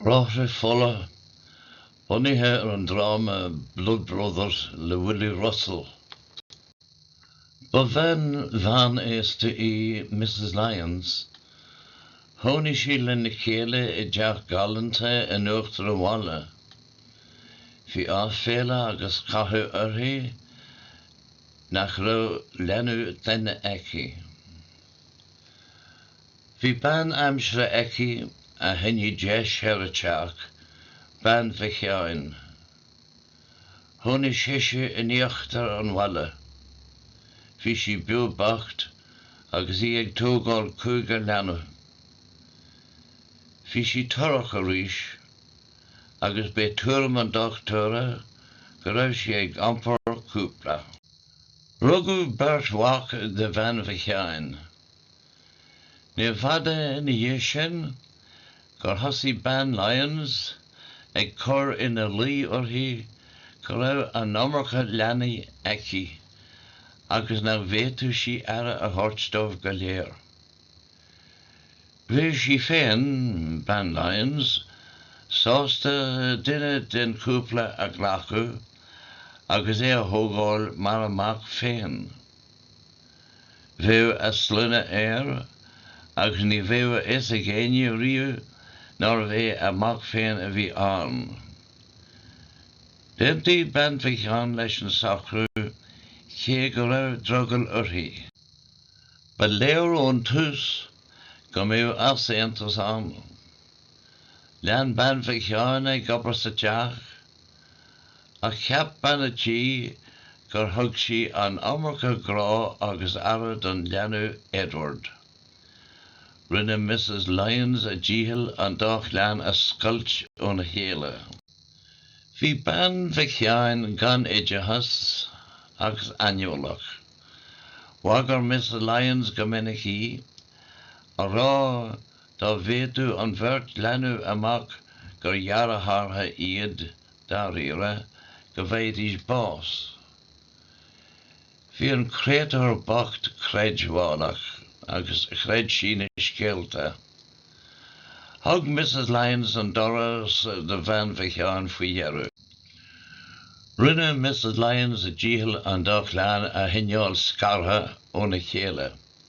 Bráithre Fola, bunaithe ar an dráma Blood Brothers le Willy Russell. Ba bhean mheánaosta í Misses Lyons. Chónaigh sí lena chéile i dteach galánta in uachtar an bhaile. Bhí áiféala agus cathú uirthi nach raibh leanbh clainne aici. Bhí bean aimsire aici a choinneadh deis ar an teach, Bean Mhic Sheáin. Chónaigh sise in íochtar an bhaile. Bhí sí beo bocht agus í ag tógáil cúigear leanbh. Bhí sí torrach arís agus b'é tuairim an dochtúra go raibh sí ag iompar cúpla. Rugadh beirt mhac do Bhean Mhic Sheáin. Níorbh fhada ina dhiaidh sin gur thosaigh bean Lyons ag cur ina luí uirthi go raibh an iomarca leanaí aici agus nach bhféadfadh sí aire a thabhairt dóibh go léir. Bhí sí féin, bean Lyons, sásta duine den chúpla a ghlacadh agus é a thógáil mar a mac féin. Bheadh a sloinne air, ach ní bheadh a fhios ag éinne riamh nárbh é a mac féin a bhí ann. D'aontaigh Bean Mhic Sheáin leis an socrú, cé go raibh drogall uirthi. Ba léir ón tús go mbeadh easaontas ann. Lean Bean Mhic Sheáin ag obair sa teach Ach cheap bean a' tí gur thug sí an iomarca grá agus aire don leanbh Edward. Rinne Misses Lyons a dícheall an dá chlann a scoilt óna chéile. Bhí bean Mhic Sheáin gan oideachas agus aineolach. Bhagair Misses Lyons go minic í, á rá dá bhfaigheadh an bheirt leanbh amach gur dheartháireacha iad dáiríre, go bhfaighidís bás. Bhí an créatúr bocht creidmheálach agus chreid sí na scéalta. Thug Misses Lyons an doras do Bhean Mhic Sheáin faoi dheireadh. Rinne Misses Lyons a dícheall an dá chlann a choinneáil scartha óna chéile.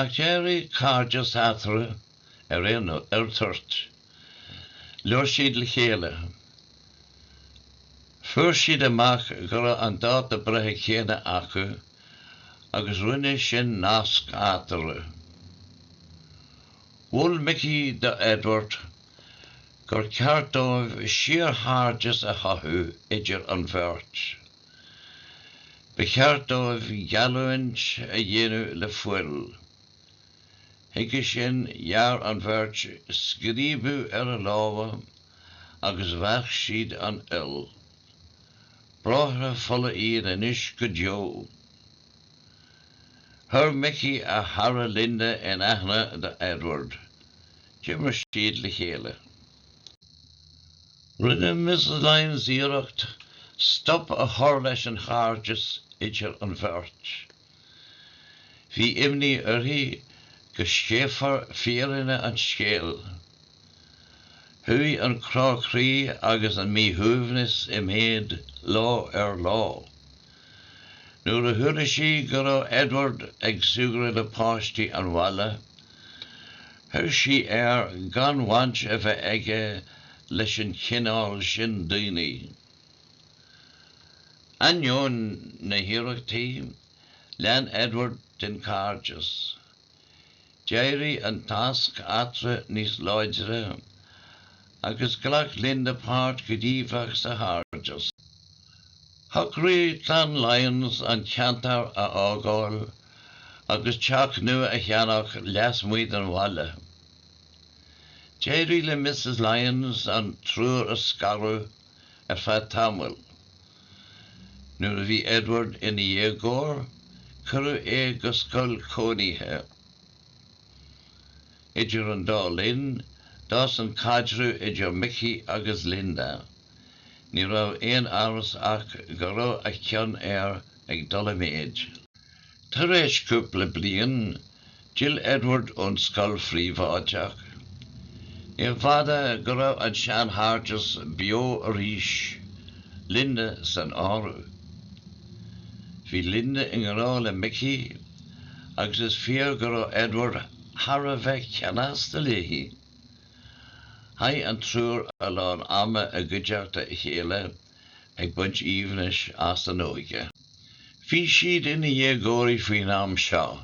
Ach d'éirigh cairdeas eatarthu ar an toirt. Labhair siad le chéile. Fuair siad amach go raibh an dáta breithe céanna acu agus rinne sin nasc eatarthu. Mhol Micí do Edward gur cheart dóibh síorchairdeas a chothú idir an bheirt. Ba cheart dóibh geallúint a dhéanamh le fuil. Chuige sin, ghearr an bheirt scríobadh ar a lámha agus mheasc siad an fhuil. Bráithre fola iad anois go deo. Chuir Micí a chara Linda in aithne do Edward. D'imir siad le chéile. Rinne Mrs Lyons iarracht stop a chur leis an chairdeas idir an bheirt. Bhí imní uirthi go sceithfear fírinne an scéil. Chuaigh an crá croí agus an míshuaimhneas i méad lá ar lá. Nuair a chuala sí go raibh Edward ag súgradh le páistí an bhaile, chuir sí air gan bhaint a bheith aige leis an chineál sin daoine. Ainneoin na hiarrachtaí, lean Edward den chairdeas. D'éirigh an nasc eatarthu níos láidre agus ghlac Linda páirt ghníomhach sa chairdeas. Shocraigh clann Lyons an ceantar a fhágáil agus teach nua a cheannach leasmuigh den bhaile. D'éirigh le Mrs Lyons an triúr a scaradh ar feadh tamaill. Nuair a bhí Edward ina dhéagóir, cuireadh é go scoil cónaithe. Idir an dá linn, d'fhás an caidreamh idir Micí agus Linda. Ní raibh aon amhras ach go raibh a cion air ag dul i méid. Tar éis cúpla bliain, D'fhill Edward ón scoil phríobháideach. Ní fada go raibh an seanchairdeas beo arís, Linda san áireamh. Bhí Linda i ngrá le Micí agus is fíor go raibh Edward thar a bheith ceanasta léi. Chaith an triúr a lán ama i gcuideachta a chéile ag baint aoibhnis as an óige. Bhí siad ina ndéagóirí faoin am seo.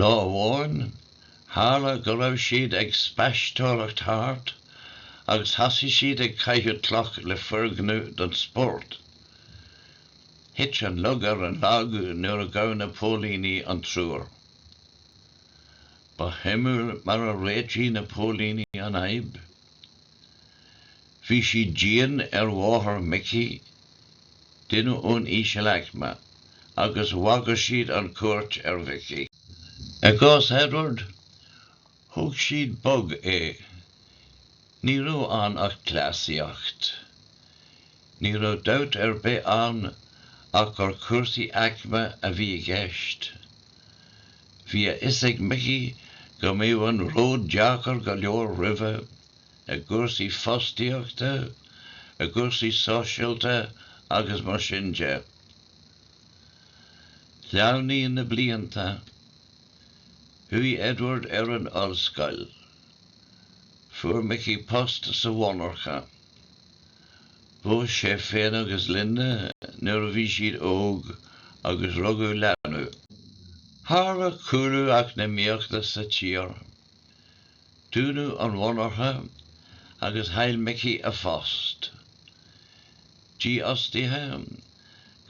Lá amháin, tharla go raibh siad ag spaisteoireacht thart agus thosaigh siad ag caitheamh cloch le foirgneamh don spórt. Thit an lug ar an lag nuair a ghabh na póilíní an triúr. Ba shuimiúil mar a réitigh na póilíní an fhadhb. Bhí siad dian ar mháthair Micí, duine ón ísealaicme, agus bhagair siad an chúirt ar Mhicí. I gcás Edward, thug siad bog é. Ní raibh ann ach cleasaíocht. Ní raibh dabht ar bith ann ach gur cúrsaí aicme a bhí i gceist. Bhí a fhios ag Micí go mbeadh an ród deacair go leor roimhe, i gcúrsaí fostaíochta, i gcúrsaí sóisialta agus mar sin de. Shleamhnaigh na blianta. Chuaigh Edward ar an ollscoil. Fuair Micí post sa mhonarcha. Phós sé féin agus Linda nuair a bhí siad óg agus rugadh leanbh. Tharla cúlú eacnamaíochta sa tír. dúnadh an mhonarcha agus chaill Mickey a phost, dífhostaithe,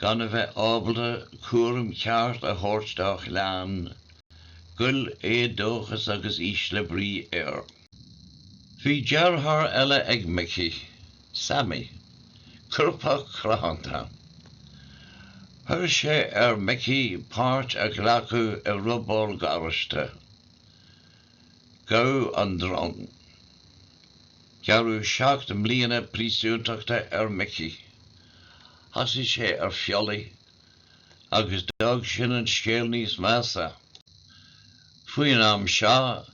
gan a bheith ábalta cúram ceart a thabhairt dá chlann, ghoill éadóchas agus ísle brí air. Bhí deartháir eile ag Mickey, Sammy, coirpeach cruthanta. Chuir sé ar Mickey páirt a ghlacadh i robáil garáiste. Gabhadh an drong. Gearradh seacht mbliana príosúntachta ar Mickey. Thosaigh sé ar phiollaí agus d'fhág sin an scéal níos measa. Faoin am seo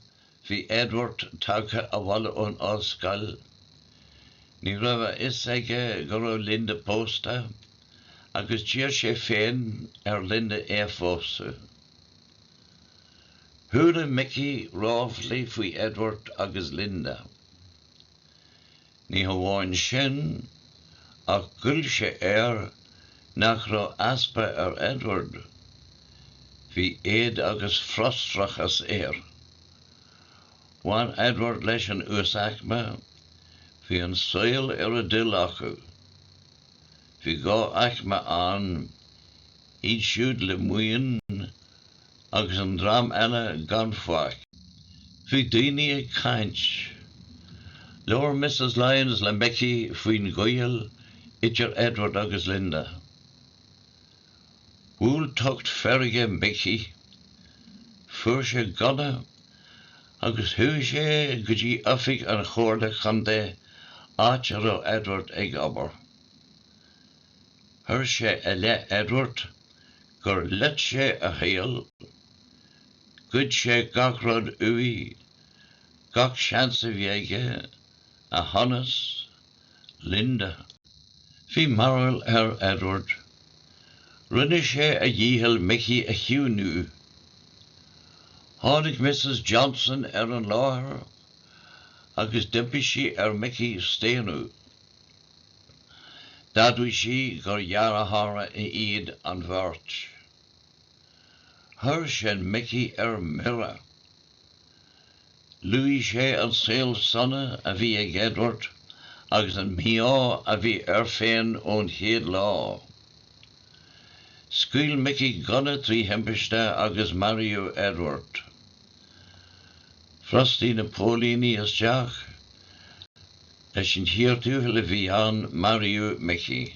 bhí Edward tagtha abhaile ón ollscoil. Ní raibh a fhios aige go raibh Linda pósta agus d'iarr sé féin ar Linda é a phósadh. Chuala Micí ráflaí faoi Edward agus Linda. Ní hamháin sin, ach ghoill sé air nach raibh easpa ar Edward. Bhí éad agus frustrachas air. Bhain Edward leis an uasaicme, bhí an saol ar a dtoil acu. Bhí dhá aicme ann, iad siúd le maoin agus an dream eile gan faic. Bhí daoine ag caint. Labhair Missus Lyons le Micí faoin ghaol idir Edward agus Linda. Bhuail tocht feirge Micí. Fuair sé gunna agus chuaigh sé go dtí oifig an Chomhairle Contae áit a raibh Edward ag obair. Chuir sé i leith Edward gur loit sé a shaol, ghoid sé gach rud uaidh, gach seans a bhí aige, a shonas, Linda. Bhí mearbhall ar Edward. Rinne sé a dhícheall Micí a chiúiniú. Tháinig Missus Johnson ar an láthair agus d'impigh sí ar Micí staonadh. D'admhaigh sí gur dheartháireacha iad an bheirt. Chuir sin Micí ar mire. Luaigh sé an saol sona a bhí ag Edward agus an mí-ádh a bhí air féin ón chéad lá. Scaoil Micí gunna trí thimpiste agus maraíodh Edward. Bhrostaigh na póilíní isteach is sa chíor thuathail a bhí ann maraíodh Micí.